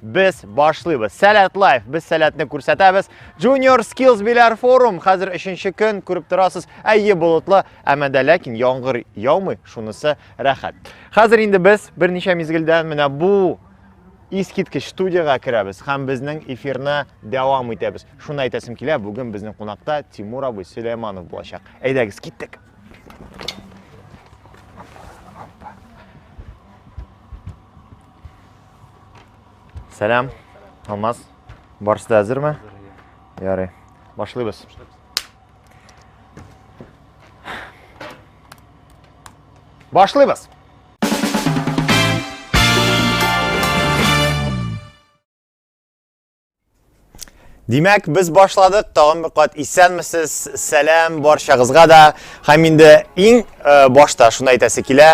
Без башлыйбыз. Сәләт лайф. Без сәләтне күрсәтәбез. Junior Skills Bilar Forum. Хәзер өченче көн күреп торасыз. Әйе болытлы, әмма дә ләкин яңгыр яумый. Шунысы рәхәт. Хәзер инде без берничә мизгелдән менә бу искиткеч студияга керәбез һәм безнең эфирны дәвам итәбез. Шуны әйтәсем килә, бүген безнең кунакта Тимур абый Сөләйманов булачак. Әйдәгез, киттек. Сәлам, Алмаз. Барысы да әзерме? Ярый. Башлыйбыз. Башлыйбыз. Димәк, без башладык. Тагын бер кат исәнмесез. Сәлам барчагызга да. Һәм инде иң э, башта шуны әйтәсе килә.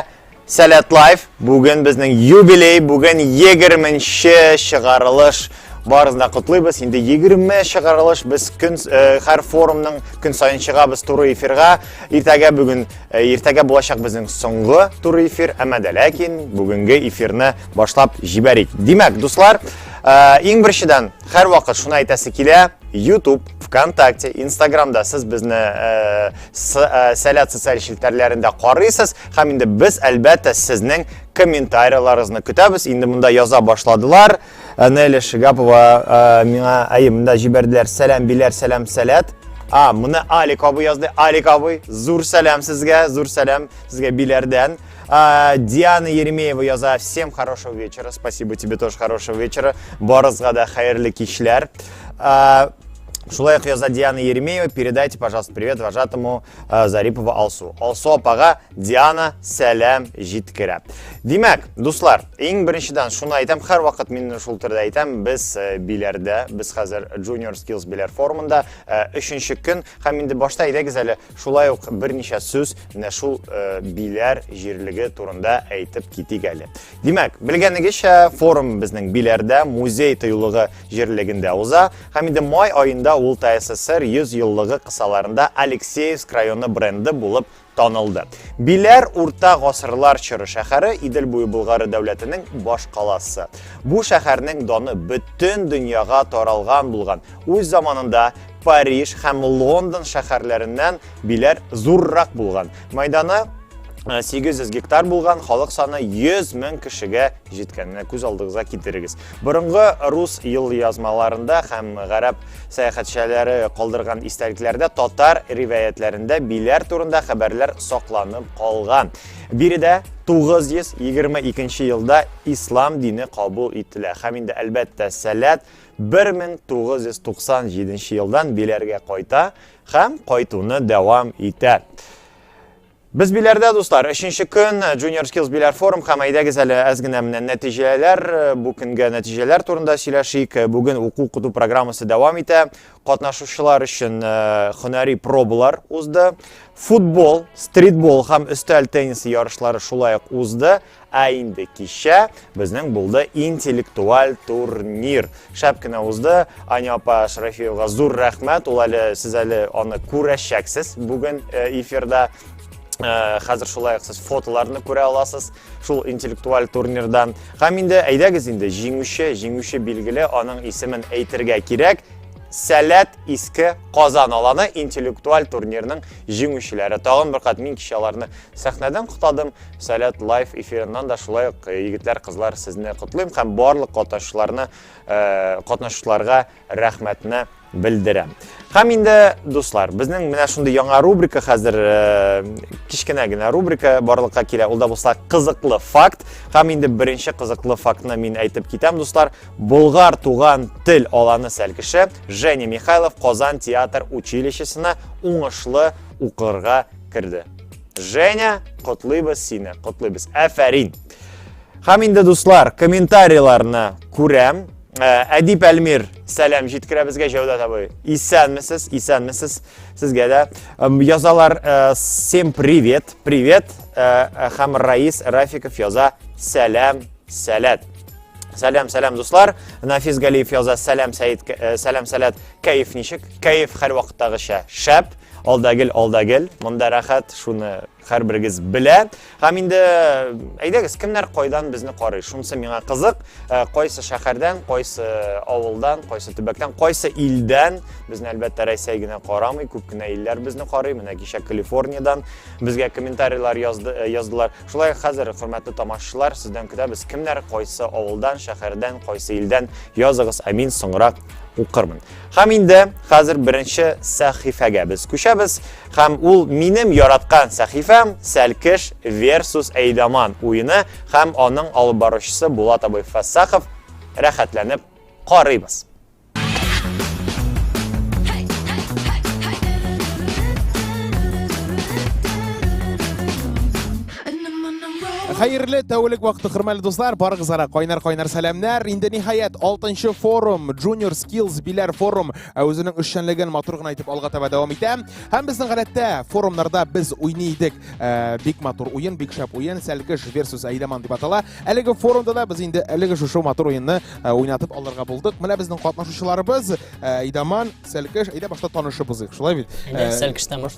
Сәләт лайф. Бүген безнең юбилей, бүген 20-нче чыгарылыш. Барысын да котлыйбыз. Инде 20 чыгарылыш без көн э, һәр форумның көн саен чыгабыз туры эфирга. Иртәгә бүген э, иртәгә булачак безнең соңгы туры эфир, әмма дә ләкин бүгенге эфирны Башлап җибәрик. Димәк, дуслар, э, иң беренчедән һәрвакыт шуны әйтәсе килә, YouTube, ВКонтакте, Инстаграмда сез безне э, э, сәләт социаль челтәрләрендә карыйсыз һәм инде без әлбәттә сезнең комментарияларыгызны көтәбез. Инде монда яза башладылар. Нелли Шигапова миңа әйе, монда җибәрделәр. Сәлам, биләр, сәлам, сәләт. А, моны Алик абый язды. Алик абый, зур сәлам сезгә, зур сәлам сезгә биләрдән. А, Диана Еремеева яза. Всем хорошего вечера. Спасибо тебе тоже хорошего вечера. Барызга да хайырлы кичләр. А, Шулай яза Диана Еремеева. Передайте, пожалуйста, привет вожатому э, Зарипова Алсу. Алсу апага Диана сәлам җиткерә. Димәк, дуслар, иң беренчедән шуны әйтәм, һәр вакыт мин шул төрдә әйтәм, без э, биләрдә, без хәзер Junior Skills биләр форумында э, өченче көн һәм инде башта әйдәгез әле Шулай ук берничә сүз менә шул э, Биләр җирлеге турында әйтеп китик әле. Димәк, белгәнегезчә, форум безнең Биләрдә, музей тыюлыгы җирлегендә уза, һәм инде май аенда ул ТССР 100 еллыгы кысаларында Алексеевск районы бренды булып танылды. Биләр урта гасырлар чоры шәһәре Идел буе Болгары дәүләтенең баш каласы. Бу шәһәрнең даны бөтен дөньяга таралган булган. Үз заманында Париж һәм Лондон шәһәрләреннән биләр зуррак булган. Майданы 800 э, гектар булган халык саны 100 мең кешегә җиткәнне күз алдыгызга китерегез. Борынгы рус ел язмаларында һәм гарәп сәяхәтчеләре калдырган истәлекләрдә татар ривәятләрендә биләр турында хәбәрләр сакланып калган. Биредә 922 елда ислам дине кабул ителә. Һәм инде әлбәттә сәләт 1997 елдан Биләргә кайта һәм кайтуны дәвам итә. Без Биләрдә, дуслар, өченче көн Junior Skills Биләр форум һәм әйдәгез әле әз генә менә нәтиҗәләр, бу көнгә нәтиҗәләр турында сөйләшик. Бүген уку-укыту программасы дәвам итә. Катнашучылар өчен һөнәри пробалар узды. Футбол, стритбол һәм өстәл теннисы ярышлары шулай ук узды. Ә инде кичә безнең булды интеллектуаль турнир. Шәп кенә узды. Аня апа Шәрәфиевага зур рәхмәт. Ул әле сез әле аны күрәчәксез бүген э, эфирда. Э, хәзер шулай ук сез фотоларны күрә аласыз шул интеллектуаль турнирдан. Һәм инде әйдәгез инде җиңүче, җиңүче билгеле, аның исемен әйтергә кирәк. Сәләт иске Казан аланы интеллектуаль турнирның җиңүчеләре. Тагын бер кат мин кичә аларны сәхнәдән котадым. Сәләт лайф эфирыннан да шулай ук э, егетләр, кызлар сезне котлыйм һәм барлык катнашучыларны э, катнашучыларга рәхмәтне белдерәм. Һәм инде дуслар, безнең менә шундый яңа рубрика хәзер э, кечкенә генә рубрика барлыкка килә. Ул да булса кызыклы факт. Һәм инде беренче кызыклы фактны мин әйтеп китәм, дуслар. Болгар туган тел аланы сәлкеше Женя Михайлов Казан театр училищесына уңышлы укырга керде. Женя, котлыйбыз сине, котлыйбыз. Әфәрин. Хәм инде дуслар, комментарийларны күрәм. Э, Әдип Әлмир, сәлам җиткерә безгә Җәүдәт абый. Исәнмесез, исәнмесез. Сезгә дә язалар. Э, всем привет, привет. Э, хәм Раис Рафиков яза. Сәлам, сәләт. Сәлам, сәлам дуслар. Нафис Галиев яза. Сәлам, Сәид, сәлам, сәләт. Кәеф ничек? Кәеф һәр вакыттагыча. Шәп. Ал да гел, ал да гел. Монда рәхәт, шуны һәрберегез белә. Һәм инде әйдәгез, кемнәр кайдан безне карый? Шунысы миңа кызык. Э, кайсы шәһәрдән, кайсы авылдан, кайсы төбәктән, кайсы илдән? Безне әлбәттә Рәсәй генә карамый, күп кенә илләр безне карый. Менә кичә Калифорниядән безгә комментарийлар язды, э, яздылар. Шулай хәзер хөрмәтле тамашачылар, сездән көтәбез. Кемнәр кайсы авылдан, шәһәрдән, кайсы илдән? Языгыз, ә мин соңрак укырмын. Хәм инде хәзер беренче сәхифәгә без күчәбез, хәм ул минем яраткан сәхифәм Сәлкеш versus Әйдаман уены хәм аның алып баручысы Булат абый Фәссахов рәхәтләнеп карыйбыз. Хәерле тәүлек вакыты, хөрмәле дуслар, барыгызга кайнар-кайнар сәламнәр. Инде ниһаять 6 форум, Junior Skills Биләр форум ә үзенең эшчәнлеген матур гына итеп алга таба дәвам итә. Һәм безнең гадәттә форумнарда без уйный идек. Э, бик матур уен, бик шәп уен, Сәлкеш versus Әйдәман дип атала. Әлеге форумда да без инде әлеге шушы матур уенны э, уйнатып алырга булдык. Менә безнең катнашучыларыбыз э, Әйдәман, Сәлкеш, әйдә башта танышып узыйк. Шулай бит?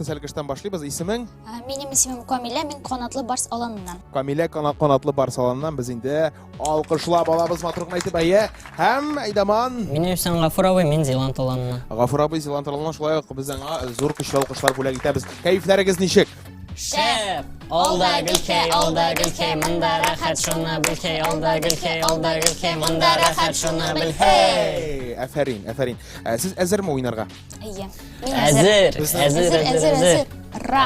Сәлкештән башлыйбыз. Исемең? Ә, Минем исемем Камилә, мин канатлы барс аланыннан. Камилә кана- канатлы бар салоннан без инде алкышлап алабыз матур гына итеп әйе. Һәм Айдаман Минем исем Гафур абый, мин Зеланд аланына. Гафур абый Зилан Таралман шулай ук без аңа зур көчле алкышлар бүләк итәбез. Кәефләрегез ничек? Шәп! Алда гөлкәй, алда гөлкәй, монда рәхәт шуны белкәй, алда гөлкәй, алда гөлкәй, монда рәхәт шуны белкәй. Әфәрин, әфәрин. Ә, Сез әзерме уйнарга? Әйе. Мин әзер. Әзер, әзер, әзер, әзер. Ра.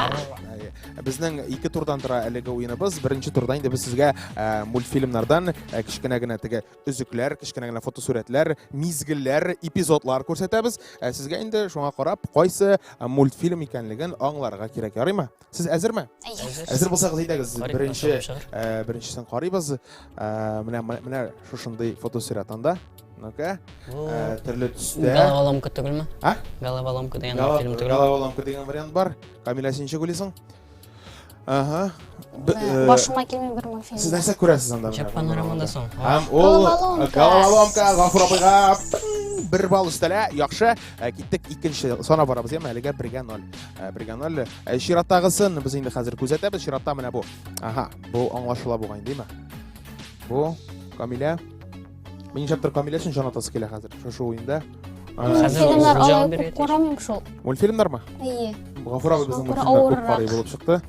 Безнең ике турдан тора әлеге уеныбыз. Беренче турда инде без сезгә э, мультфильмнардан э, кечкенә генә теге өзекләр, кечкенә генә фотосурәтләр, мизгелләр, эпизодлар күрсәтәбез. Э, сезгә инде шуңа карап, кайсы мультфильм икәнлеген аңларга кирәк, ярыймы? Сез әзерме? Әзер. Әзер булсагыз әйдәгез, беренче э, беренчесен карыйбыз. Э, менә менә шушындый фотосурәт анда. Ну-ка. Э, төрле төстә. Головоломка түгелме? А? Головоломка дигән фильм түгел. Головоломка дигән вариант бар. Камилә син ничек уйлыйсың? Ага. Башыма килми бер мультфильм. Сез нәрсә күрәсез анда? Чак панорамада соң. Һәм ул головоломка Гафур абыйга бер балл өстәлә. Яхшы, киттек икенче сана барабыз, яме әлегә 1-0. Ә, Бриганалле. Ә чираттагысын без инде хәзер күзәтәбез. Чиратта менә бу. Ага, бу аңлашыла бугай, димме? Бу Камилә. Мин чаптыр Камилә өчен җан атасы килә хәзер. Шушы уенда. Хәзер ул җан бирә. Карамыйм шул. Мультфильмнармы? Әйе. Гафур абый безнең мультфильмда күп карый булып чыкты.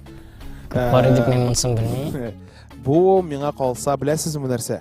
Карый дип мин монсын белмим. Бу миңа калса, беләсезме нәрсә?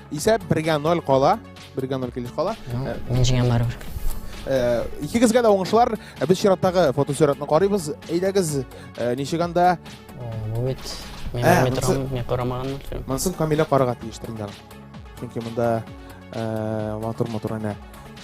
Исә бергә ноль кала. Бергә ноль килеш кала. Мин җиңәм барыбер. Э, Икегезгә дә уңышлар. Э, Без чираттагы фотосөйрәтне карыйбыз. Әйдәгез, э, ничек анда? Бу бит мин Ә, белми монсы- торам, мин карамаган. Монсын Камилә карарга тиештер инде. аны. Чөнки монда э, матур-матур әнә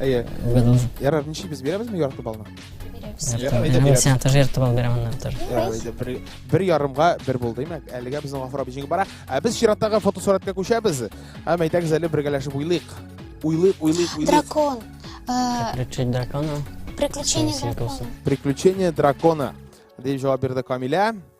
Әйе. Белмим. Ярар, ничек без бирәбезме ярты балны? Бирәбез. Ярты балны. Мин сиңа тоже ярты балл бирәм аннан тоже. Ярар, әйдә, бер, бер ярымга бер булды, димәк. Әлегә безнең Гафур абый җиңеп бара. Ә без чираттагы фотосурәткә күчәбез. Һәм әйтәгез әле бергәләшеп уйлыйк. Уйлыйк, уйлыйк, уйлыйк. Дракон. Э, Приключения дракона. Приключения Синең дракона. вкусом. Приключения дракона. Дип җавап бирде Камилә.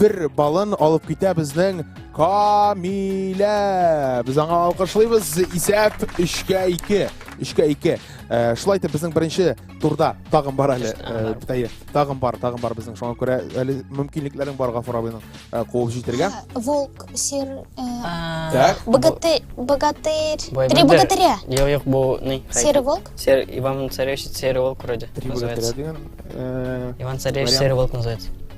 бер балын алып китә безнең Камилә. Без аңа алкышлыйбыз. Исәп 3-кә 2. 3-кә 2. Шулай итеп безнең беренче турда тагын бар әле. Әйе, тагын бар, тагын бар безнең шуңа күрә әле мөмкинлекләрең бар Гафур абыйның куып җитергә. Волк, сер. Так. Богатырь, богатырь. Три богатыря. Юк, юк, бу ни? Серый волк? Сер Иван Царевич, серый волк вроде. Три богатыря дигән. Иван Царевич, серый волк называется.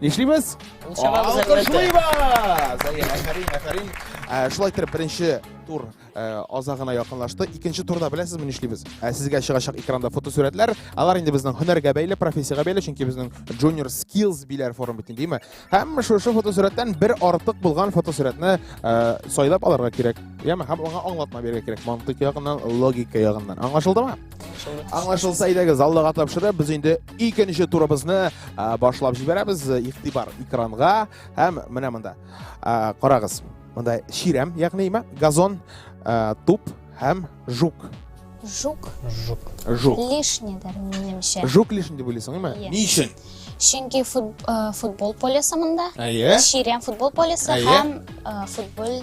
Нишлибез? Ул чамабыз әлбәттә. Алкышлыйбыз! Әйе, әфәрин, әфәрин. Ә, Шулай итеп, беренче тур ә, азагына якынлашты. Икенче турда беләсезме нишлибез? Ә, Сезгә чыгачак экранда фотосурәтләр. Алар инде безнең һөнәргә бәйле, профессиягә бәйле, чөнки безнең Junior Skills биләр форум бит инде, димме? Һәм шушы фотосурәттән бер артык булган фотосурәтне ә, сайлап алырга кирәк. Яме, һәм аңа аңлатма бирергә кирәк. Мантыйк ягыннан, логика ягыннан. Аңлашылдымы? Аңлашылса идеге заллыга тапшырып, без инде икенче турыбызны башлап җибәрәбез. Игътибар экранга һәм менә монда. Карагыз. Монда чирәм, ягъни имә, газон, туп һәм жук. Жук. Жук. Жук. Лишний дәр минемчә. Жук лишний дип уйлыйсың, имә? Ни өчен? Чөнки футбол полесы монда. Әйе. Чирәм футбол полесы һәм футбол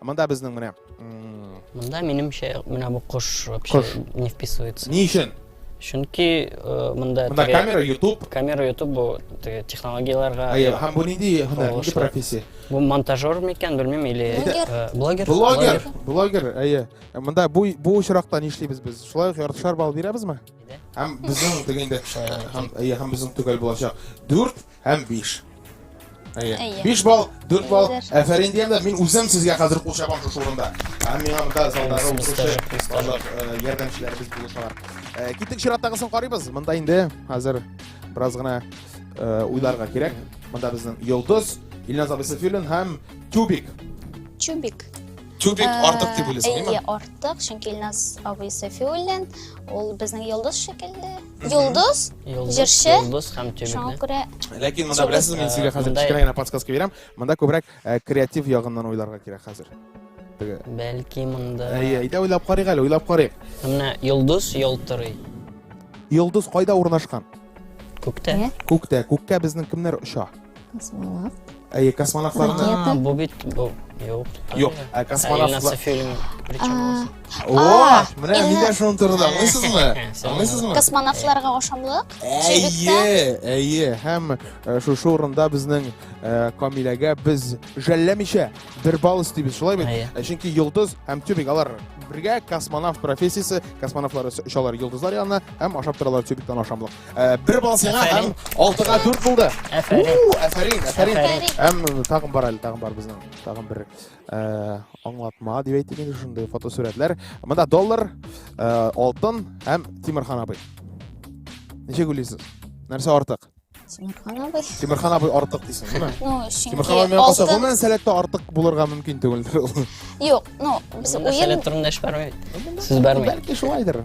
Монда безнең менә. Монда минемчә менә бу кош вообще не вписывается. Ни өчен? Чөнки э, монда Монда камера, YouTube. Камера, YouTube бу теге технологияләргә. Әйе, һәм бу нинди һөнәр, нинди профессия? Бу монтажер микән, белмим, или э, блогер. Блогер. Блогер, әйе. Э, монда бу бу очракта нишлибез без? Шулай ук яртышар балл бирәбезме? Һәм безнең дигәндә һәм әйе, һәм безнең төгәл булачак. 4 һәм биш. Әйе. Әйе. Биш балл, дүрт балл. Әйе, дәрс. Әфәрин диям дә, мин үзем сезгә хәзер кул чабам шушы урында. Һәм миңа монда залдагы Әйе, укучы стажик, стажик. барлык э, ярдәмчеләребез булышалар. Э, Киттек чираттагысын карыйбыз. Монда инде хәзер бераз гына э, уйларга кирәк. Монда безнең Йолдыз, Илназ абый Сафиуллин һәм Тюбик. Чубик. Тюбик Ә, артык дип уйлыйсың, әйе, әйе? артык, чөнки Илназ абый Сафиуллин, ул безнең йолдыз шикелле, Йолдыз, Йолдыз, җырчы. Йолдыз һәм Шуңа тюбикны. күрә Ләкин монда беләсез, мин сезгә хәзер кечкенә генә подсказка бирәм. Монда күбрәк э, креатив ягыннан уйларга кирәк хәзер. Теге. Бәлки монда... Әйе, әйдә уйлап карыйк әле, уйлап карыйк. Менә йолдыз ялтырый. Йолдыз кайда урнашкан? Күктә. Күктә. Күккә безнең кемнәр оча? Космолав. Әйе, космонавтларны. А, бу бит бу. Юк. Юк, ә космонавтлар. фильм. О, менә мин дә шуның турында аңлыйсызмы? Аңлыйсызмы? Космонавтларга ошамлык. Әйе, әйе, һәм шушы урында безнең Камиләгә без жәлләмичә бер балл өстибез, шулай бит? Чөнки Йолдыз һәм Тюбик алар бергә космонавт профессиясе, космонавтлар очалар Йолдызлар янына һәм ашап торалар Тюбиктан ашамлык. Э, бер балл сиңа һәм алтыга дүрт булды әфәрин әфәрин һәм тагын бар әле тагын бар безнең тагын бер э, аңлатма дип әйтик инде шундый фотосурәтләр мында доллар э, алтын һәм тимерхан абый ничек уйлыйсыз нәрсә артык тимерхан абый тимерхан абый артык дисең ме ну чөнки тимерхан абый калса гомумән сәләттә артык булырга мөмкин түгелдер ул юк ну без уен сәләт турында эш бармый сүз бармый бәлки шулайдыр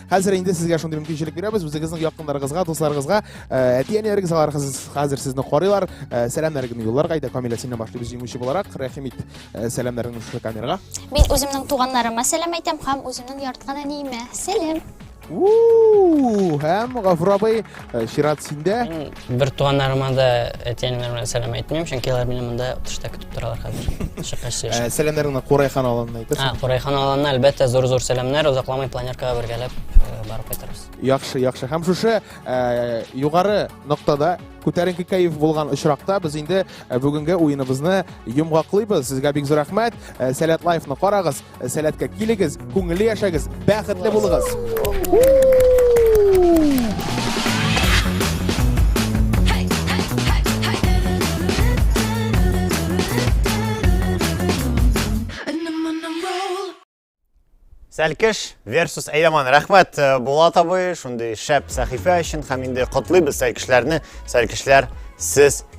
Хәзер инде сезгә шундый мөмкинчелек бирәбез, үзегезнең якыннарыгызга, дусларыгызга, әти-әниләрегез алар хәзер сезне карыйлар, сәламнәрегезне юлларга иде, Камилә синнән башлый без җиңүче буларак, рәхим ит сәламнәреңне шушы камерага. Мин үземнең туганнарыма сәлам әйтәм һәм үземнең яраткан әниемә. Сәлам. Һәм Гафур абый Э, чират синдә мин бертуганнарыма да әти әниләремә сәлам әйтмим чөнки алар мине монда тышта көтеп торалар хәзер чыккач сөйләшәм э, сәламнәреңне курайхан аланына әйтерсең курайхан аланына әлбәттә зур зур сәламнәр озакламый планеркага бергәләп э, барып кайтырбыз яхшы яхшы һәм шушы югары ноктада күтәренке кәеф булган очракта без инде бүгенге уеныбызны йомгаклыйбыз сезгә бик зур рәхмәт сәләт лайфны карагыз Сәләткә килегез, күңелле яшәгез, бәхетле булыгыз. Сәлкеш versus Әйдаман. Рәхмәт э, Булат абый, шундый шәп сәхифә өчен һәм инде котлыйбыз сәлкешләрне. Сәлкешләр, сез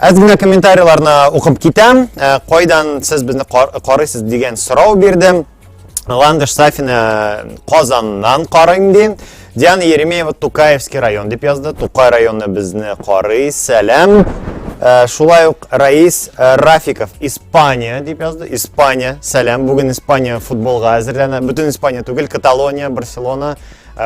Әз генә комментарийларны укып китәм. Э, кайдан сез безне карыйсыз дигән сорау бирдем. Ландыш Сафина э, Казаннан карыйм ди. Диана Еремеева Тукаевский район дип язды. Тукай районы безне карый. Сәлам. Э, шулай ук Раис Рафиков Испания дип язды. Испания. Сәлам. Бүген Испания футболга әзерләнә. Бөтен Испания түгел, Каталония, Барселона,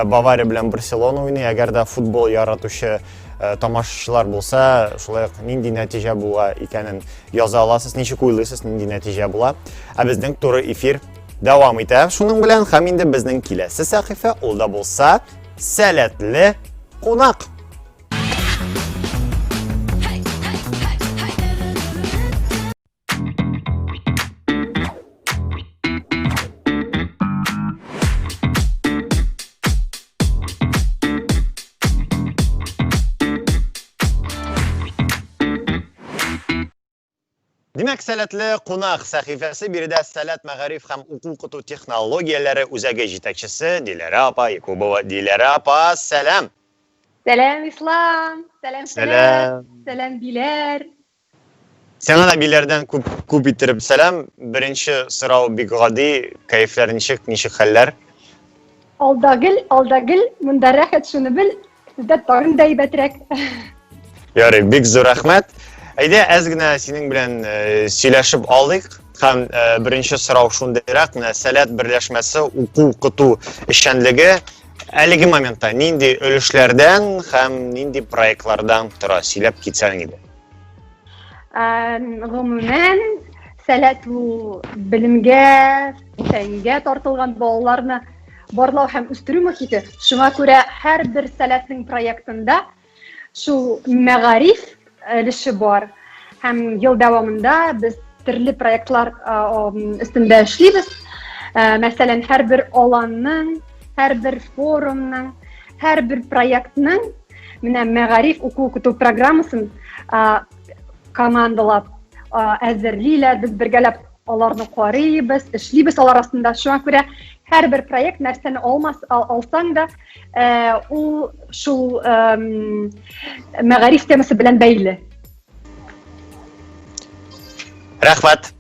Бавария белән Барселона уйный. Әгәр дә футбол яратучы Э, тамашачылар болса шулай нинди нәтиже була икәнен яза аласыз ничек уйлыйсыз нинди нәтиже була ә безнең туры эфир дәвам итә шуның белән һәм инде безнең киләсе сәхифә ул да булса сәләтле кунак Димәк, сәләтле кунак сәхифәсе биредә сәләт мәгариф һәм уку укыту технологияләре үзәге җитәкчесе Диләрә апа Якубова. Диләрә апа, сәлам. Сәлам, Ислам. Сәлам, сәлам. Сәлам, Диләр. Сиңа да биләрдән күп күп иттереп сәлам. Беренче сорау бик гади, кәефләр ничек, ничек хәлләр? Алда гел, алда гел, монда рәхәт шуны бел, сездә тагын да әйбәтрәк. Ярый, бик зур рәхмәт. Әйдә, әз генә синең белән э, сөйләшеп алдык. Һәм э, беренче сорау шундыйрак, менә сәләт берләшмәсе уку укыту эшчәнлеге әлеге моментта нинди өлешләрдән һәм нинди проектлардан тора, сөйләп китсәң иде. гомумән сәләт ул белемгә фәнгә тартылган балаларны барлау һәм үстерү мохите шуңа күрә һәрбер сәләтнең проектында шул мәгариф өлеше бар һәм ел дәвамында без төрле проектлар өстендә эшлибез мәсәлән һәрбер аланның һәрбер форумның Һәр бер проектның менә мәгариф уку укыту программасын командалап әзерлиләр, без бергәләп аларны карыйбыз, эшлибез алар астында. Шуңа күрә һәр бер проект нәрсәне алмас алсаң да, ул шул мәгариф темасы белән бәйле. Рәхмәт.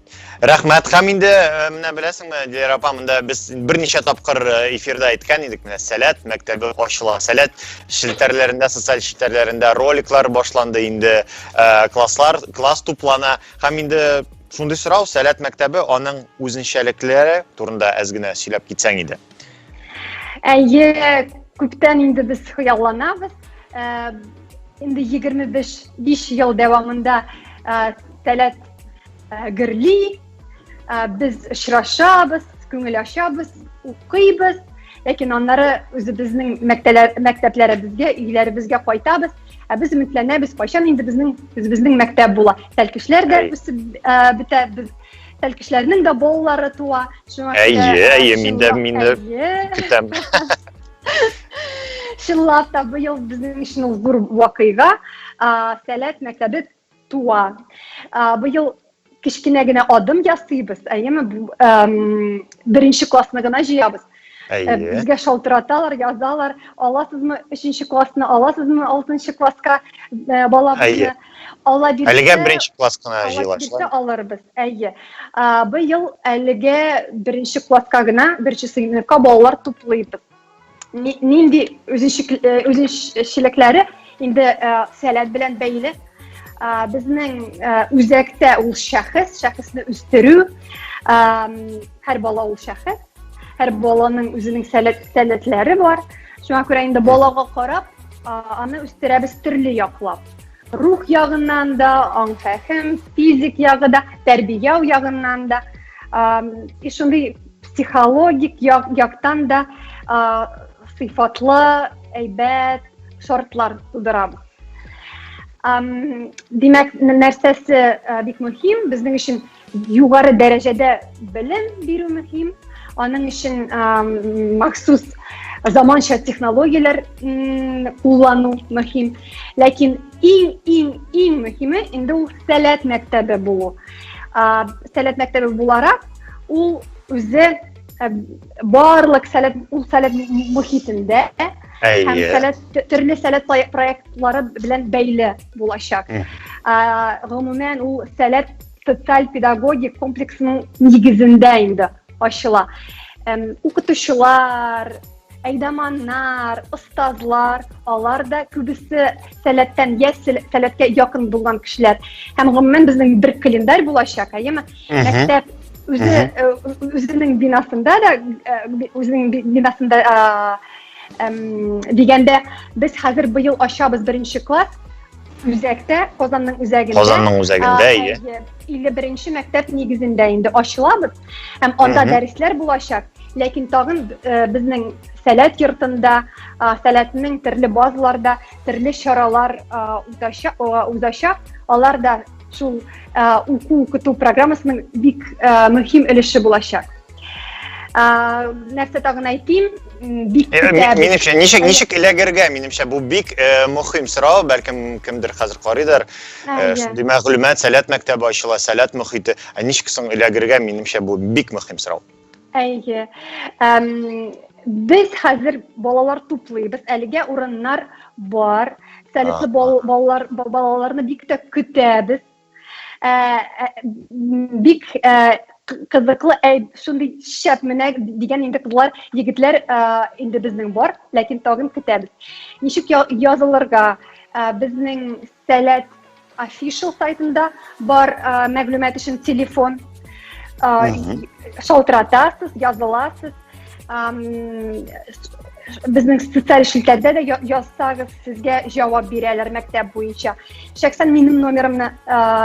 Рәхмәт. Хәм инде э, менә беләсеңме, Диләр апа, монда без берничә тапкыр э, эфирда әйткән идек, менә Сәләт мәктәбе ачыла. Сәләт челтәрләрендә, социаль челтәрләрендә роликлар башланды инде, э, класслар, класс туплана. Хәм инде шундый сорау, Сәләт мәктәбе, аның үзенчәлекләре турында әз генә сөйләп китсәң иде. Әйе, күптән инде без хыялланабыз. Э, инде 25 ел дәвамында э, Сәләт э, гөрли, без очрашабыз, күңел ачабыз, укыйбыз, ләкин аннары үзебезнең мәктәпләребезгә, өйләребезгә кайтабыз. Ә без өметләнәбез, кайчан инде безнең үзебезнең мәктәп була. Тәлкешләр дә үсеп бетә, без Тел кешеләрнең дә балалары туа. Шуңа күрә Әйе, әйе, мин дә мине көтәм. Чынлап та быел безнең өчен ул зур вакыйга. Сәләт мәктәбе туа. Быел кечкенә генә адым ясыйбыз, әйеме? Беренче классны гына җыябыз. Әйе. Безгә шалтыраталар, язалар, аласызмы, өченче классны аласызмы, алтынчы класска балабызны. Алла бирсә, әлегә беренче класс кына җыелашлар. Алырбыз, әйе. Быел әлегә беренче класска гына, беренче сыйныфка балалар туплыйбыз. Нинди үзенчелекләре Инде э, сәләт белән бәйле э, безнең э, үзәктә ул шәхес, шәхесне үстерү, һәр бала ул шәхес, һәр баланың үзенең сәләт, сәләтләре бар. Шуңа күрә инде балага карап, аны үстерәбез төрле яклап. Рух ягыннан да, аң фәһем, физик ягы да, тәрбияу ягыннан да, и шундый психологик як, яктан да сыйфатлы, әйбәт, шартлар тудырабыз. Димәк, нәрсәсе бик мөһим? Безнең өчен югары дәрәҗәдә белем бирү мөһим. Аның өчен махсус заманча технологияләр куллану мөһим. Ләкин иң иң иң мөһиме инде ул сәләт мәктәбе булу. Сәләт мәктәбе буларак ул үзе барлык сәләт ул сәләт мөхитендә һәм сәләт төрле сәләт проектлары белән бәйле булачак гомумән ул сәләт социаль педагогик комплексның нигезендә инде ачыла укытучылар әйдаманнар остазлар алар да күбесе сәләттән йә сәләткә якын булган кешеләр һәм гомумән безнең бер календарь булачак әйеме мәктәп үзе үзенең бинасында да үзенең бинасында дигәндә без хәзер быел ачабыз беренче класс үзәктә казанның үзәгендә казанның үзәгендә иә илле беренче мәктәп нигезендә инде ачылабыз һәм анда дәресләр булачак ләкин тагын э, безнең сәләт йортында сәләтнең төрле базаларда төрле чаралар узачак алар да Шул ә, уку укыту программасының бик ә, мөһим өлеше булачак. Ә, нәрсә тагын әйтим? Бик э, көтәбез. Минемчә, ничек ничек эләгергә, минемчә, бу бик э, мөһим сорау, бәлкем кемдер хәзер карыйдыр. Э, шундый мәгълүмат, Сәләт мәктәбе ачыла, Сәләт мөхите. Ә ничек соң эләгергә, минемчә, бу бик мөһим сорау. Әйе. Әм, без хәзер балалар туплыйбыз. Әлегә урыннар бар. Сәләтле балалар балаларны бик тә көтәбез. Ә, ә, бик ә, кызыклы әй шундый шәп менә дигән инде кызлар егетләр инде безнең бар ләкин тагын көтәбез ничек язылырга безнең Сәләт official сайтында бар мәгълүмат өчен телефон шалтыратасыз, языласыз. Безнең социаль челтәрдә дә язсагыз, сезгә җавап бирәләр мәктәп буенча. Шәхсән минем номерымны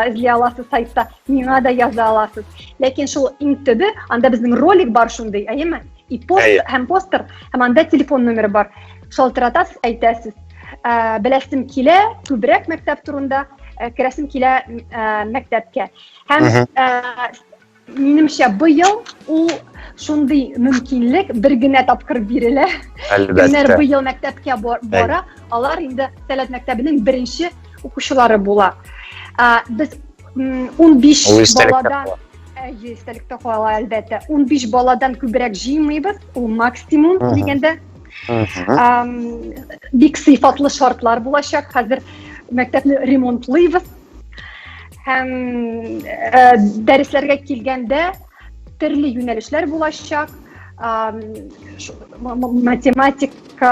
эзли аласыз сайтта, миңа да яза аласыз. Ләкин шул иң төбе, анда безнең ролик бар шундый, әйеме? и пост Әйе. һәм постер һәм анда телефон номеры бар шалтыратасыз әйтәсез ә, беләсем килә күбрәк мәктәп турында ә, керәсем килә ә, мәктәпкә һәм ә, минемчә быел ул шундый мөмкинлек бер генә тапкыр бирелә кемнәр быел мәктәпкә бара алар инде сәләт мәктәбенең беренче укучылары була ә, без 15 баладан Әйе, истәлектә кала, әлбәттә. 15 баладан күбрәк җыймыйбыз, ул максимум дигәндә. Бик сыйфатлы шартлар булачак. Хәзер мәктәпне ремонтлыйбыз. Һәм э, дәресләргә килгәндә төрле юнәлешләр булачак. Математика,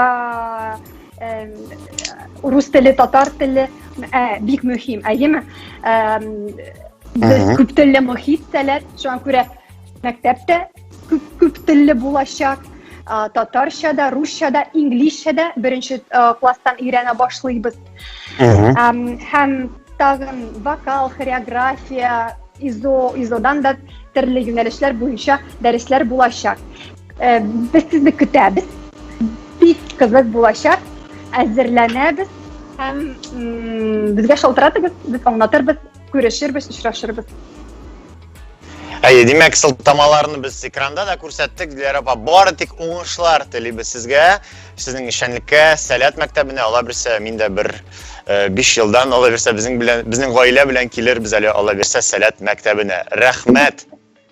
рус теле татар теле ә, бик мөһим әйеме без күп телле мохит сәләт шуңа күрә мәктәптә күп күп телле булачак татарча да русча да инглизчә да беренче класстан өйрәнә башлыйбыз һәм тагын вокал хореография изо изодан да төрле юнәлешләр буенча дәресләр булачак Э, без сезне көтәбез. Бик кызык булачак. Әзерләнәбез һәм безгә шалтыратыгыз, без аңлатырбыз, күрешербез, очрашырбыз. Әйе, димәк, сылтамаларны без экранда да күрсәттек. Диләр апа, бары тик уңышлар телибез сезгә, сезнең эшчәнлеккә, Сәләт мәктәбенә, ала бирсә, мин дә бер 5 э, елдан ала бирсә, безнең белән, безнең гаилә белән килербез әле ала бирсә Сәләт мәктәбенә. Рәхмәт!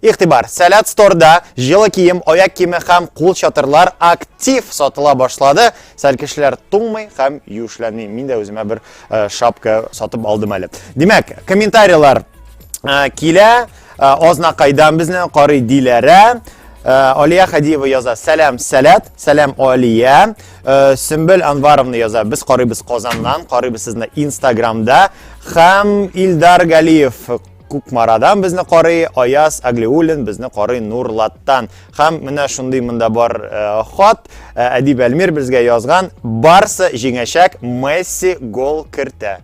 Игътибар! Сәләт сторда җылы кием, аяк киеме һәм кул чатырлар актив сатыла башлады. Сәл кешеләр туңмый һәм юешләнми. Мин дә үземә бер э, шапка сатып алдым әле. Димәк, комментарийлар э, килә, э, азнакайдан безне карый диләрә. Э, Алия Хадиева яза Сәләм Сәләт, Сәләм Алия. Э, Сөмбел Анваровна яза Без карыйбыз Казаннан, карыйбыз сезне Инстаграмда. Хәм Илдар Галиев Кукмарадан безне карый Аяз Аглиуллин, безне карый Нурлаттан. Һәм менә шундый монда бар э, хат, э, Әдип Әлмир безгә язган, барсы җиңәчәк, Месси гол кертә.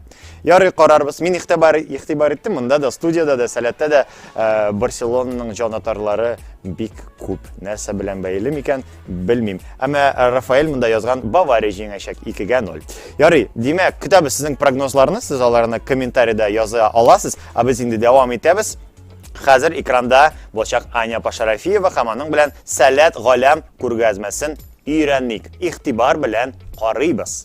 Ярый карарбыз. Мин ихтибар ихтибар иттем, монда да студияда да, сәләттә дә э, Барселонаның җанатарлары бик күп. Нәрсә белән бәйле микән? Белмим. Әмма Рафаэль монда язган Бавария җиңәчәк 2-гә 0. Ярый, димәк, көтәбез сезнең прогнозларны, сез аларны комментариядә яза аласыз, ә без инде дәвам итәбез. Хәзер экранда булачак Аня Пашарафиева һәм аның белән Сәләт галәм күргәзмәсен өйрәник. Игътибар белән карыйбыз.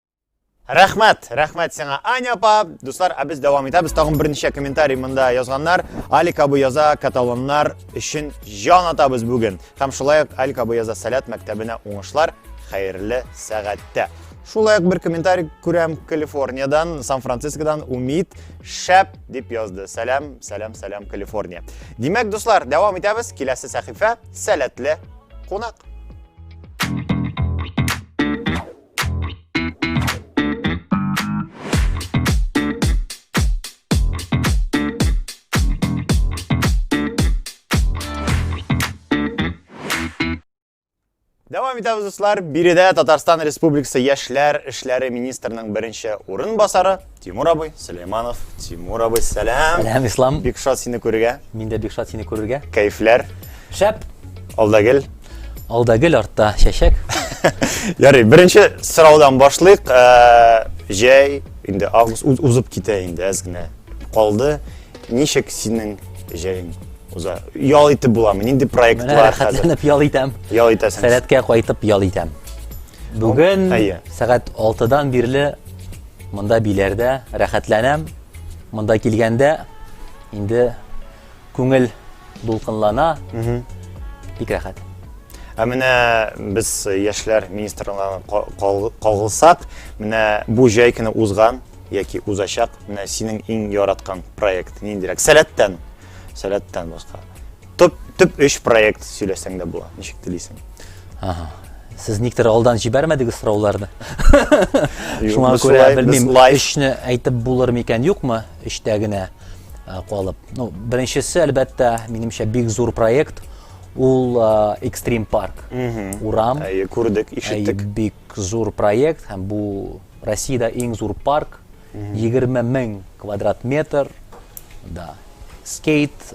Рәхмәт, рәхмәт сиңа, Аня апа. Дуслар, ә без дәвам итәбез. Тагын берничә комментарий монда язганнар. Алик абы яза, каталоннар өчен җан атабыз бүген. Һәм шулай ук Алик абы яза, Сәләт мәктәбенә уңышлар, хәерле сәгатьтә. Шулай ук бер комментарий күрәм Калифорниядән, Сан-Францискодан Умид шәп дип язды. Сәлам, сәлам, сәлам Калифорния. Димәк, дуслар, дәвам итәбез. Киләсе сәхифә Сәләтле кунак. Дәвам итәбез, дуслар. Биредә Татарстан Республикасы яшьләр эшләре министрының беренче урынбасары Тимур абый, Сөләйманов, Тимур абый, сәлам. Сәлам, Ислам. Бик шат сине күрергә. Мин дә бик шат сине күрергә. Кәефләр. Шәп. Алдагел. Алдагел артта чәчәк. Ярый, беренче сораудан башлыйк. Э, җәй инде август узып китә инде әз генә калды. Ничек синең җәең уза? Ял итеп буламы? Нинди проектлар хәзер? Менә ял итәм. Ял итәсең. Сәләткә кайтып ял итәм. Бүген сәгать 6-дан бирле Монда биләрдә рәхәтләнәм. Монда килгәндә инде күңел дулкынлана. Бик рәхәт. Ә менә без яшьләр министрлыгына кагылсак, менә бу җәй көне узган яки узачак, менә синең иң яраткан проект ниндирәк? Сәләттән. Сәләттән башка. Төп төп өч проект сөйләсәң дә була. Ничек телисең? Ага. Сез никтер алдан җибәрмәдегез сорауларны. Шуңа күрә белмим, өчне әйтеп булыр микән, юкмы? Өчтә генә калып. Ну, беренчесе, әлбәттә, минемчә бик зур проект. Ул Extreme Park. Урам. Әйе, күрдек, ишеттек. Бик зур проект һәм бу Россиядә иң зур парк. Егерме мең квадрат метр, да. Скейт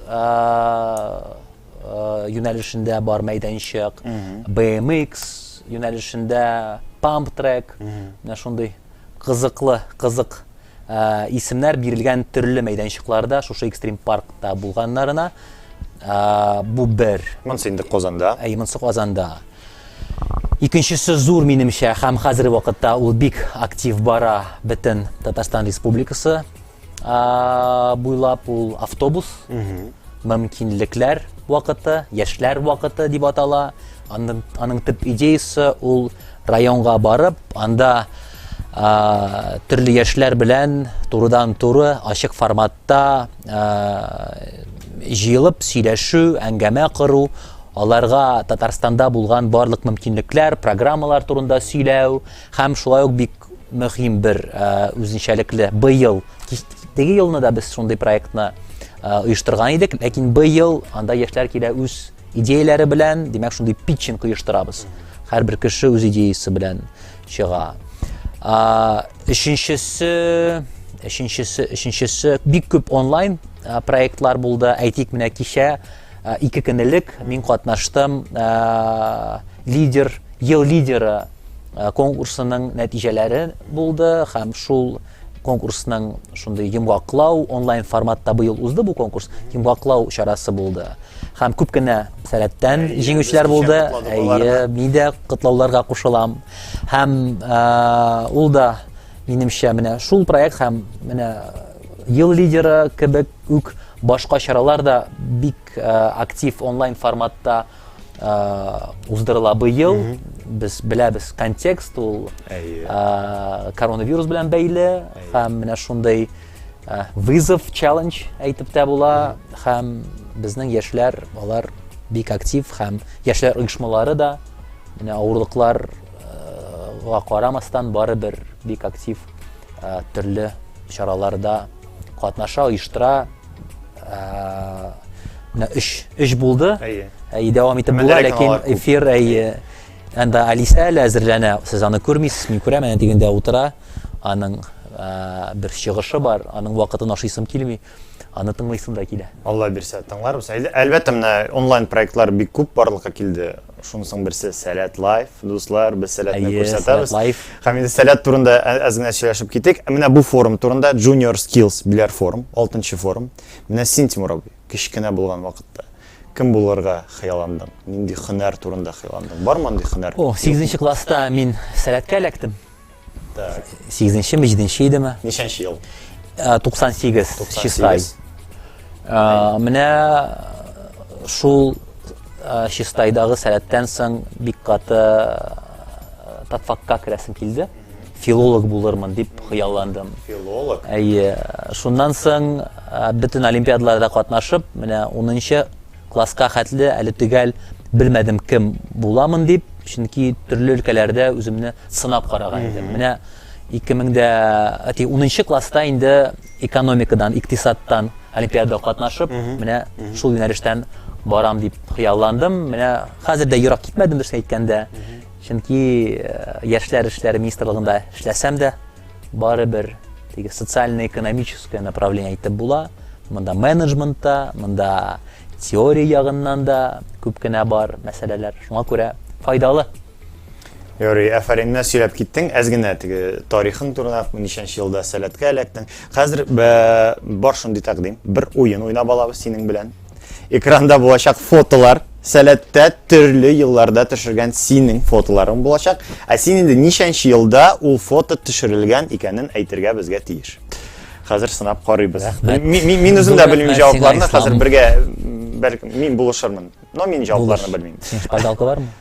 юнәлешендә бар мәйданчык, BMX юнәлешендә памп трек, менә шундый кызыклы, кызык исемнәр бирелгән төрле мәйданчыкларда, шушы экстрим паркта булганнарына. Бу бер. Монсы инде Казанда. Әй, монсы Казанда. Икенчесе зур минемчә, һәм хәзерге вакытта ул бик актив бара бөтен Татарстан Республикасы буйлап ул автобус, мөмкинлекләр вакыты, яшьләр вакыты дип атала. Аның, аның төп идеясы ул районга барып, анда ә, төрле яшьләр белән турыдан-туры ачык формат та җыелып сөйләшү, әңгәмә кору, аларга Татарстанда булган барлык мөмкинлекләр, программалар турында сөйләү һәм шулай ук бик мөһим бер үзенчәлекле быел теге елны да без шундый проектны оештырган идек, ләкин быел анда яшьләр килә үз идеяләре белән, димәк, шундый питчинг оештырабыз. Һәрбер кеше үз идеясы белән чыга. А, өченчесе, өченчесе, өченчесе бик күп онлайн проектлар булды. Әйтик, менә кичә ике көн элек мин катнаштым лидер, ел лидеры конкурсының нәтиҗәләре булды һәм шул конкурсның шундый йомгаклау онлайн форматта быел узды бу конкурс йомгаклау чарасы булды һәм күп кенә сәләттән җиңүчеләр булды әйе мин дә котлауларга кушылам һәм ул да минемчә менә шул проект һәм менә ел лидеры кебек үк башка чаралар да бик актив онлайн форматта Э, уздырыла быел без беләбез контекст ул э, коронавирус белән бәйле һәм менә шундый э, вызов челлендж әйтеп тә була һәм безнең яшьләр алар бик актив һәм яшьләр оешмалары да менә авырлыкларга карамастан барыбер бик актив төрле чараларда катнаша оештыра Менә өч, өч булды. Әйе. Әйе, дәвам итеп була, ләкин эфир әйе. Анда Алиса әле әзерләнә. Сез аны күрмисез, мин күрәм, әнә дигәндә утыра. Аның бер чыгышы бар, аның вакытын ашыйсым килми. Аны тыңлыйсым да килә. Алла бирсә, тыңларбыз. Әлбәттә, менә онлайн проектлар бик күп барлыкка килде. Шунысың берсе Сәләт Лайф, дуслар, без Сәләтне күрсәтәбез. Һәм инде Сәләт турында әз генә сөйләшеп китик. Менә бу форум турында Junior Skills Bilar Forum, 6нчы форум. Менә син, Тимур абый, кечкенә булган вакытта кем булырга хыялландың? Нинди һөнәр турында хыялландың? Бармы андый һөнәр? О, 8нче класста мин Сәләткә эләктем. Так. Сигезенче ме, җиденче идеме? Ничәнче ел? Ә, 98, 98. Чистай. Ә, менә шул ә, Чистайдагы сәләттән соң бик каты ә, татфакка керәсем килде. Филолог булырмын дип хыялландым. Филолог. Әйе. Шуннан соң ә, бөтен олимпиадаларда катнашып, менә 10нчы класска хәтле әле төгәл белмәдем кем буламын дип, чөнки төрле өлкәләрдә үземне Сынап караган идем. Менә ике мең дә унынчы класста инде экономикадан, икътисадтан олимпиадада катнашып, менә шул юнәлештән барам дип хыялландым. Менә хәзер дә ерак китмәдем, дөресен әйткәндә. Чөнки яшьләр эшләре министрлыгында эшләсәм дә, барыбер теге социально-экономическое направление әйтеп була. Монда менеджмент та, монда теория ягыннан да күп кенә бар мәсьәләләр. Шуңа күрә файдалы. Ярый, әфәренне сөйләп киттең. Әз генә теге тарихын турында ничәнче елда сәләткә эләктең. Хәзер бар шундый тәкъдим. Бер уен уйнап алабыз синең белән. Экранда булачак фотолар, сәләттә төрле елларда төшергән синең фотоларың булачак. Ә син инде ничәнче елда ул фото төшерелгән икәнен әйтергә безгә тиеш. Хәзер сынап карыйбыз. Мин үзем дә белмим җавапларны, хәзер бергә бер мин булышырмын. Но мин җавапларны белмим. Син шпаргалка бармы?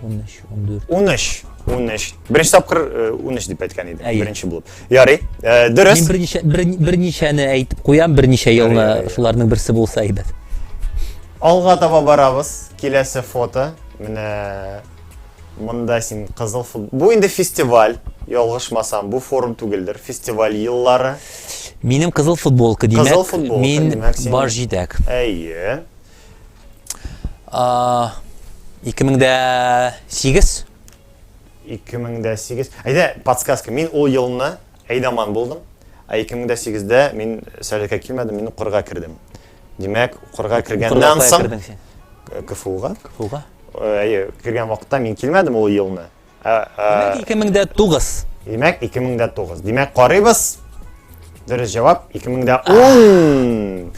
13, 14. 13. 13. Беренче тапкыр 13 э, дип әйткән идем. Әйе. Беренче булып. Ярый. Э, дөрес. Мин берничә берничәне әйтеп куям, берничә елны шуларның берсе булса әйбәт. Алга таба барабыз. Киләсе фото. Менә монда син кызыл фут. Бу инде фестиваль. Ялгышмасам, бу форум түгелдер. Фестиваль еллары. Минем кызыл футболка димәк. Кызыл футболка. Мин баш җитәк. Әйе. 2008 2008 әйдә подсказка мин ул елны әйдаман булдым ә 2008-дә мин сәләкә килмәдем мин укырга кердем димәк укырга кергәннән соң кфуга кфуга әйе кергән вакытта мин килмәдем ул елны Димәк, 2009. Димәк, 2009. Димәк, карыйбыз. Дөрес җавап 2010.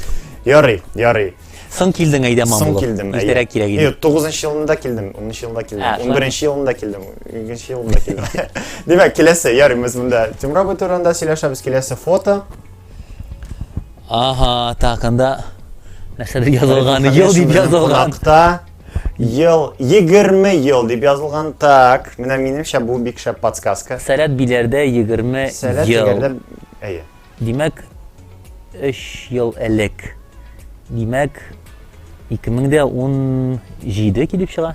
Ярый, ярый. Соң килдең әйдә мамлы. Соң килдем. Иртәрәк кирәк иде. Юк, 9 нчы елында килдем, 10 нчы елында килдем, 11 нчы елында килдем, 2 нчы елында килдем. Димәк, киләсе ярый без монда Тимур абый турында сөйләшәбез, киләсе фото. Ага, так, анда нәрсәдер язылган, ел дип язылган. Кунакта Ел, егерме ел дип язылган. Так, менә минемчә бу бик шәп подсказка. Сәләт биләрдә егерме ел. Сәләт биләрдә, әйе. Димәк, өч ел элек. Димәк, 2017 килеп чыга.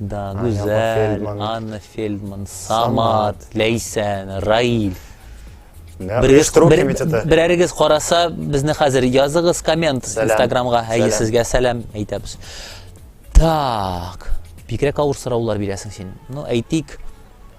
Да, Гүзәл, Анна Фельдман, Самат, Ләйсән, Раиль. Берәрегез караса, безне хәзер языгыз коммент Инстаграмга, әйе сезгә сәлам әйтәбез. Так, бигрәк авыр сораулар бирәсең син. Ну, әйтик,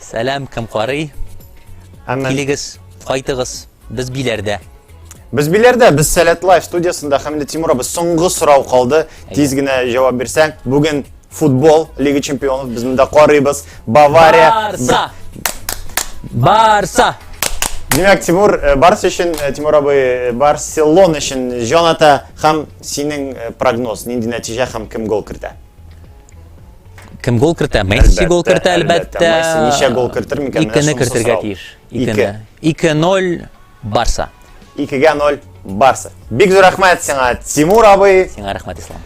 Сәлам, кем карый? Әмма... Килегез, кайтыгыз, без биләрдә. Без биләрдә, без Сәләт Лайф студиясендә Хәмидә Тимуровыз соңгы сорау калды. Тиз генә җавап бирсәң, бүген футбол Лига чемпионов без монда карыйбыз. Бавария Барса. Барса. Димәк, Тимур, э, Барс өчен, э, Тимур абый, э, Барселона өчен җан ата һәм синең прогноз, нинди нәтиҗә һәм кем гол кертә? Кем гол кертә? Месси гол кертә, әлбәттә. Месси ничә гол кертер микән? Икене кертергә тиеш. Икене. 2-0 Барса. 2-0 Барса. Бик зур рәхмәт сиңа, Тимур абый. Сиңа рәхмәт, Ислам.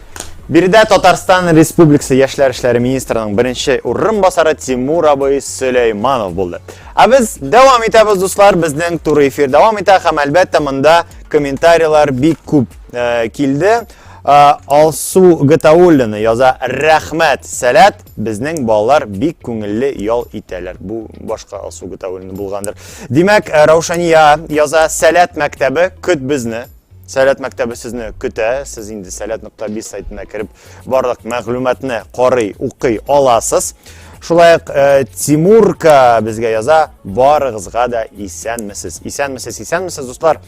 Биредә Татарстан Республикасы яшьләр эшләре министрының беренче урынбасары Тимур абый Сөләйманов булды. Ә без дәвам итәбез, дуслар, безнең туры эфир дәвам итә һәм әлбәттә монда комментарийлар бик күп э, килде. Алсу Гатауллина яза, рәхмәт, сәләт, безнең балалар бик күңелле ял итәләр. Бу башка Алсу Гатауллина булгандыр. Димәк, э, Раушания яза, сәләт мәктәбе, көт безне. Сәләт мәктәбе сезне көтә, сез инде сәләт.биз сайтына кереп барлык мәгълүматны карый, укый аласыз. Шулай ук э, Тимурка безгә яза, барыгызга да исәнмесез. Исәнмесез, исәнмесез, дуслар.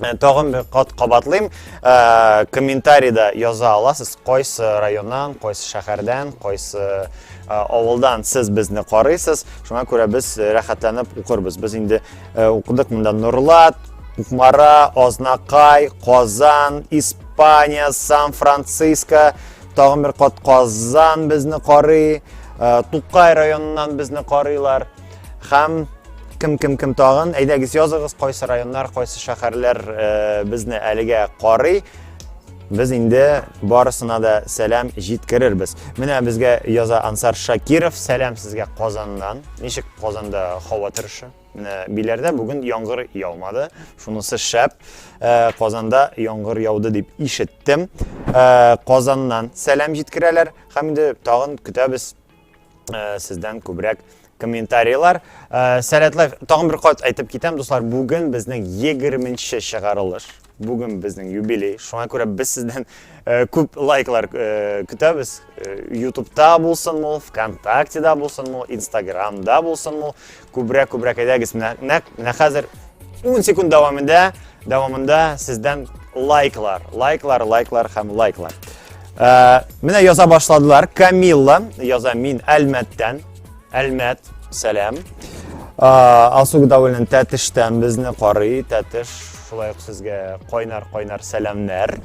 Э, тагын бер кат кабатлыйм э, комментарийда яза аласыз кайсы районнан кайсы шәһәрдән кайсы э, авылдан сез безне карыйсыз шуңа күрә без рәхәтләнеп укырбыз без инде укыдык монда нурлат кукмара азнакай казан испания сан франциско тагын бер кат казан безне карый тукай районыннан безне карыйлар Хәм кем кем кем тагын әйдәгез языгыз кайсы районнар кайсы шәһәрләр э, безне әлегә карый без инде барысына да сәлам җиткерербез менә безгә яза ансар шакиров сәлам сезгә казаннан ничек казанда һава торышы менә биләрдә бүген яңгыр яумады шунысы шәп э, казанда яңгыр яуды дип ишеттем э, казаннан сәлам җиткерәләр һәм инде тагын көтәбез Э, сездән күбрәк комментарийлар. Э, Сәләтле, тагын бер кат әйтеп китәм, дуслар, бүген безнең 20-нче чыгарылыш. Бүген безнең юбилей. Шуңа күрә без сездән э, күп лайклар көтәбез. Ютубта булсын ул, ВКонтактеда булсын ул, Инстаграмда булсын ул. Күбрәк, күбрәк әйдәгез менә, нәк, менә хәзер 10 секунд дәвамында, дәвамында сездән лайклар, лайклар, лайклар һәм лайклар. Ә, менә яза башладылар. Камилла яза мин Әлмәттән. Әлмәт, сәлам. Ә, Алсу Гудавыльнен Тәтештән безне карый. Тәтеш, шулай ук сезгә кайнар-кайнар сәламнәр.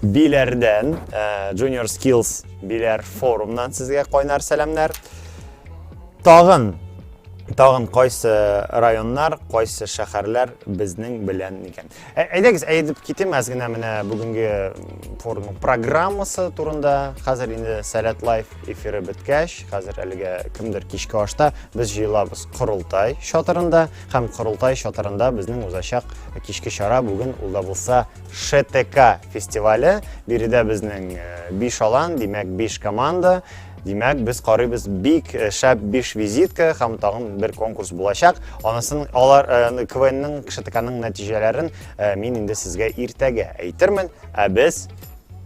Биләрдән, ә, Junior Skills Биләр форумнан сезгә кайнар сәламнәр. Тагын тагын кайсы районнар, кайсы шәһәрләр безнең белән икән. Ә, әйдәгез, әйтеп китим әз генә менә бүгенге форумның программасы турында. Хәзер инде Сәләт лайф эфиры беткәч, хәзер әлегә кемдер кичке ашта без җыелабыз корылтай чатырында һәм корылтай чатырында безнең узачак кичке чара бүген ул да булса ШТК фестивале. Биредә безнең 5 э, алан, димәк 5 команда Димәк, без карыйбыз бик э, шәп биш визитка һәм тагын бер конкурс булачак. Анысын алар э, КВНның КШТКның нәтиҗәләрен э, мин инде сезгә иртәгә әйтермен, ә без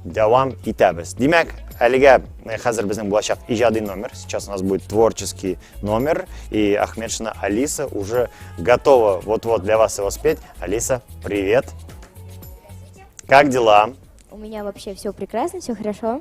дәвам итәбез. Димәк, әлегә хәзер безнең булачак иҗади номер. Сейчас у нас будет творческий номер, и Ахмедшина Алиса уже готова вот-вот для вас его спеть. Алиса, привет! Как дела? У меня вообще все прекрасно, все хорошо.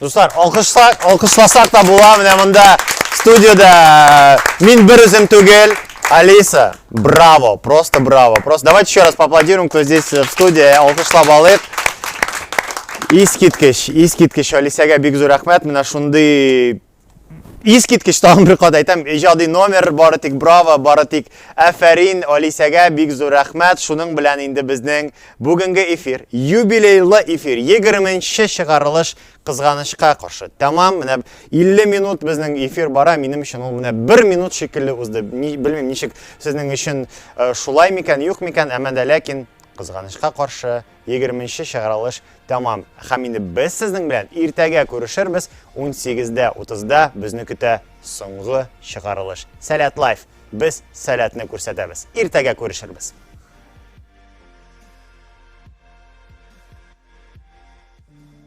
Дуслар, алкышласак, алкышласак та була, менә монда студиода мин бер үзем түгел. Алиса, браво, просто браво. Просто давайте еще раз поаплодируем, кто здесь в студии, алкышлап алыйк. Искиткеч, искиткеч Алисәгә бик зур рәхмәт. Менә шундый Искиткеч тагын бер кат әйтәм, иҗади номер, бары тик браво, бары тик әфәрин Алисәгә бик зур рәхмәт. Шуның белән инде безнең бүгенге эфир, юбилейлы эфир, 20 нче чыгарылыш кызганычка каршы тәмам. Менә 50 минут безнең эфир бара, минем өчен ул менә 1 минут шикелле узды. Ни, белмим, ничек сезнең өчен э, шулай микән, юк микән, әмма дә ләкин кызганычка каршы Егерменче чыгарылыш тәмам һәм инде без сезнең белән иртәгә күрешербез, унсигез дә утызда безне көтә соңгы чыгарылыш. Сәләт лайф, без сәләтне күрсәтәбез. Иртәгә күрешербез. Thank you.